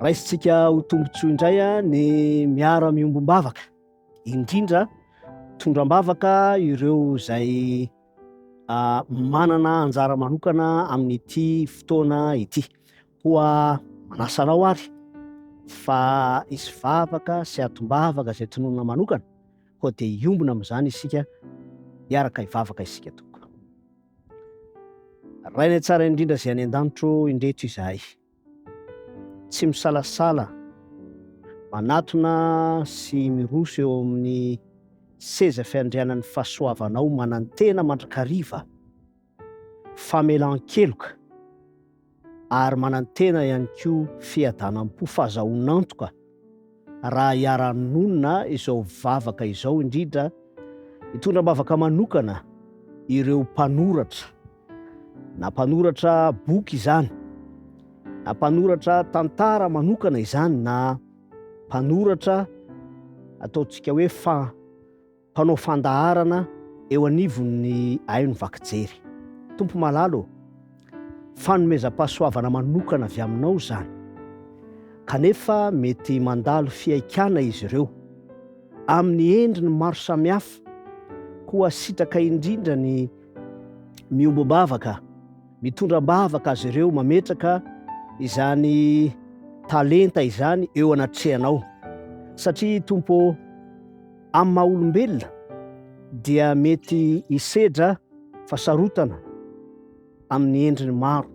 Raisintsika ho tombontsoa indray ny miara-miombom-bavaka, indrindra tondra am-bavaka ireo izay manana anjara manokana amin'ity fotoana ity. Koa manasa anao ary fa hisy vavaka sy atom-bavaka izay tononina manokana, koa dia hiombona amin'izany isika, hiaraka hivavaka isika tompoko. Rainay tsara indrindra izay any an-danitro, indreto izahay. Tsy misalasala manatona sy miroso eo amin'ny seza fiandrianan'ny fahasoavanao manantena mandrakariva famelan-keloka ary manantena ihany koa fiadanam-po fahazahoan'antoka raha iara-nonina izao vavaka izao, indrindra hitondra am-bavaka manokana ireo mpanoratra, na mpanoratra boky izany, na mpanoratra tantara manokana izany, na mpanoratra ataontsika hoe fa Mpanao fandaharana eo anivon'ny haino vaky jery. Tompo malala ô, fanomezam-pahasoavana manokana avy Aminao izany. Kanefa mety mandalo fihaikana izy ireo, amin'ny endriny maro samihafa, koa sitraka indrindra ny miombom-bavaka. Mitondra am-bavaka azy ireo mametraka izany talenta izany eo anatrehanao, satria Tompo ô, Amin'ny maha olombelona dia mety hisedra fasarotana amin'ny endriny maro,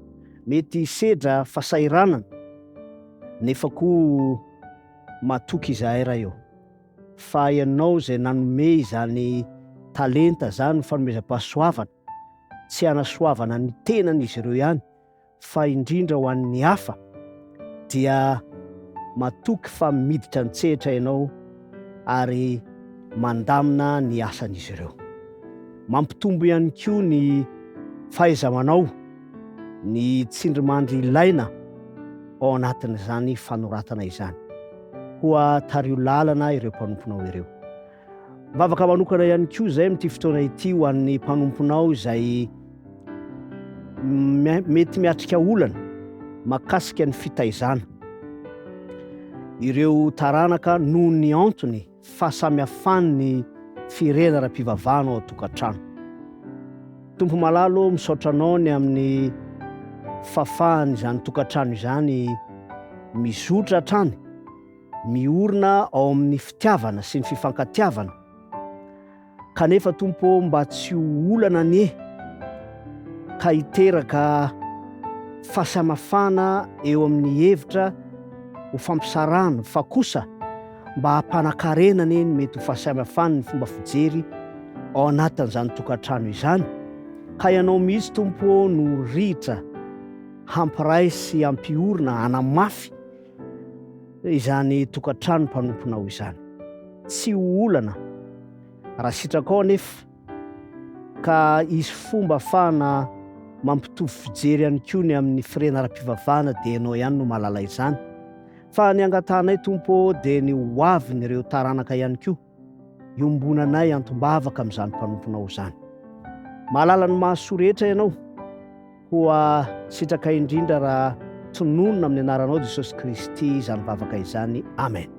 mety hisedra fasahiranana, nefa koa matoky izahay Ray ô, fa Ianao izay nanome izany talenta izany, fanomezam-pahasoavana, tsy hanasoavana ny tenan'izy ireo ihany, fa indrindra ho an'ny hafa, dia matoky fa miditra an-tsehatra ianao ary mandamina ny asan'izy ireo. Mampitombo ihany koa ny fahaiza-manao ny tsindrimandry ilaina ao anatin'izany fanoratana izany. Koa tariho lalana ireo mpanomponao ireo. Mivavaka manokana ihany koa izay amin'ity fotoana ity ho an'ny mpanomponao izay mety miatrika olana makasika ny fitaizana. Ireo taranaka noho ny antony fahasamihafan'ny firenana ara-pivavahana ao an-tokantrano. Tompo malalo, misaotra anao ny amin'ny fahafahan'izany tokantrano izany mizotra hatrany Miorina ao amin'ny fitiavana sy ny fifankatiavana kanefa Tompo ô mba tsy ho olana anie ka hiteraka fahasamafana eo amin'ny hevitra ho fampisarahana fa kosa mba hampanakarena anie ny mety ho fahasamafan'ny fomba fijery ao anatin'izany tokantrano izany ka ianao mihitsy Tompo ô no rihitra hampiray sy hampiorina hanamafy izany tokantrano mpanomponao izany. Tsy ho olana raha sitrakao anefa ka hisy fomba afahana mampitovy fijery ihany koa ny amin'ny firena ara-pivavahana dia ianao ihany no mahalala izany. Fa ny angatahanay Tompo ô dia ny ho avin'ireo taranaka ihany koa. iombonanay antombavaka amin'izany mpanomponao izany. Mahalala ny mahasoa rehetra ianao, koa sitraka indrindra raha tononina amin'ny anaranao Jesosy Kristy izany vavaka izany. Amen.